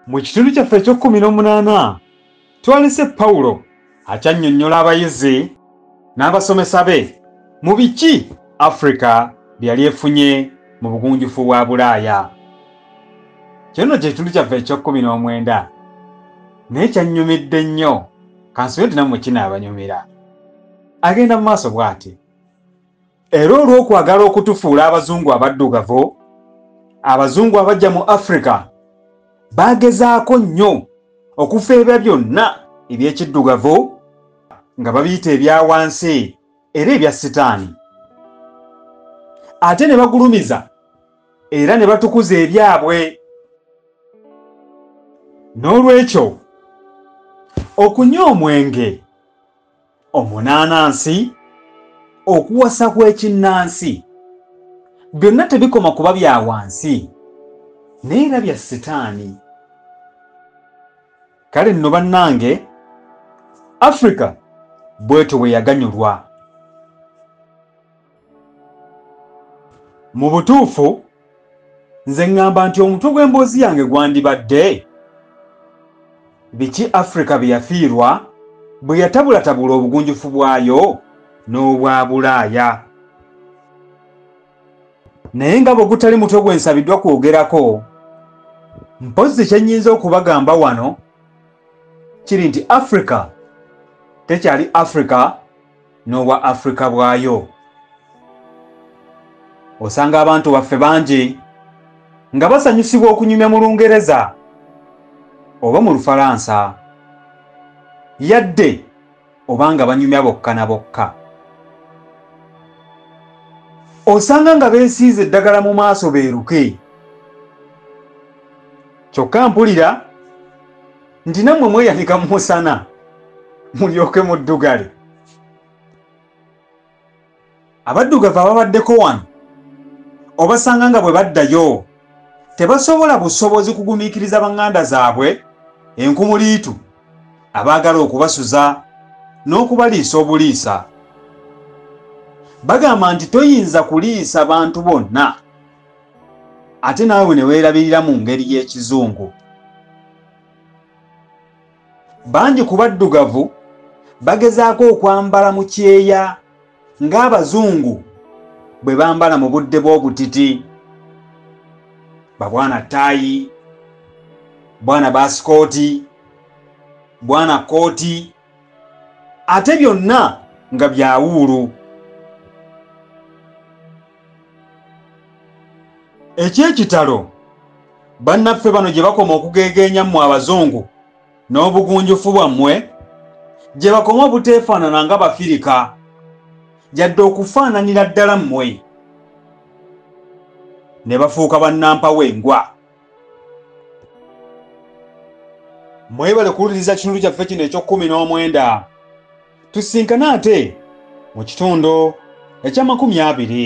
Mu kitundu kyaffe eky'ekkumi n'omunaana twalese Pawulo akyannyonnyola abayizi n'abasomesa be mu biki Afrika bye yali efunye mu bugunjufu bwa Bulaaya. Kino nno kye kitundu kyaffe eky'ekkumi n'omwenda naye kyannyumidde nnyo kansubire nti nammwe kinaabanyumira. Agenda mu maaso bw'ati. Era olw'okwagala okutufuula abazungu abaddugavu, abazungu abajja mu Afrika baagezaako nnyo okufeebya byonna eby'ekiddugavu nga babiyita ebya wansi era ebya sitaani. Ate ne bagulumiza era ne batukuza ebyabwe. N'olwekyo, okunywa omwenge. omunaanansi okuwasa kw'ekinnansi byonna tebikoma kuba bya wansi naye era bya sitaani kale nno bannange afrika bwetyo bwe yaganyulwa mu butuufu nze ŋŋamba nti omutwe gw'emboozi yange gwandibadde biki afirika bye yafiirwa bwe yatabulatabula obugunjufu bwayo n'obwa bulaaya naye nga bwe gutali mutwe gwe nsabiddwa kwogerako mpozzi kye nnyinza okubagamba wano kiri nti afirika tekyali afirika n'obwa afirika bwayo osanga abantu baffe bangi nga basanyusibwa okunyumya mu lungereza oba mu lufalansa yadde oba nga banyumya bokka na bokka osanga nga beesiiza eddagala mu maaso beeruke kyokka mpulira nti nammwe mweyanika mu musana mulyoke muddugale abaddugavu ababaddeko wano obasanga nga bwe baddayo tebasobola busobozi kugumiikiriza baŋŋanda zaabwe enkumuliitu abaagala okubasuza n'okubaliisa obuliisa bagamba nti toyinza kuliisa bantu bonna ate naawe ne weerabirira mu ngeri y'ekizungu bangi ku baddugavu bagezaako okwambala mu kyeya ng'abazungu bwe bambala mu budde bw'obutiti babwana ttaayi bwana baasikooti bwana kkooti ate byonna nga byawuulu ekyekitalo bannaffe bano gye bakoma okugeegeenya mmwe abazungu n'obugunjufu bwammwe gye bakoma obuteefaanana nga bafirika yadde okufaananira ddala mmwe ne bafuuka bannampawo engwa mwebale kuwuliriza kitundu kyaffe kino eky'okkumi n'omwenda tusinkane ate mu kitundu eky'amakumi abiri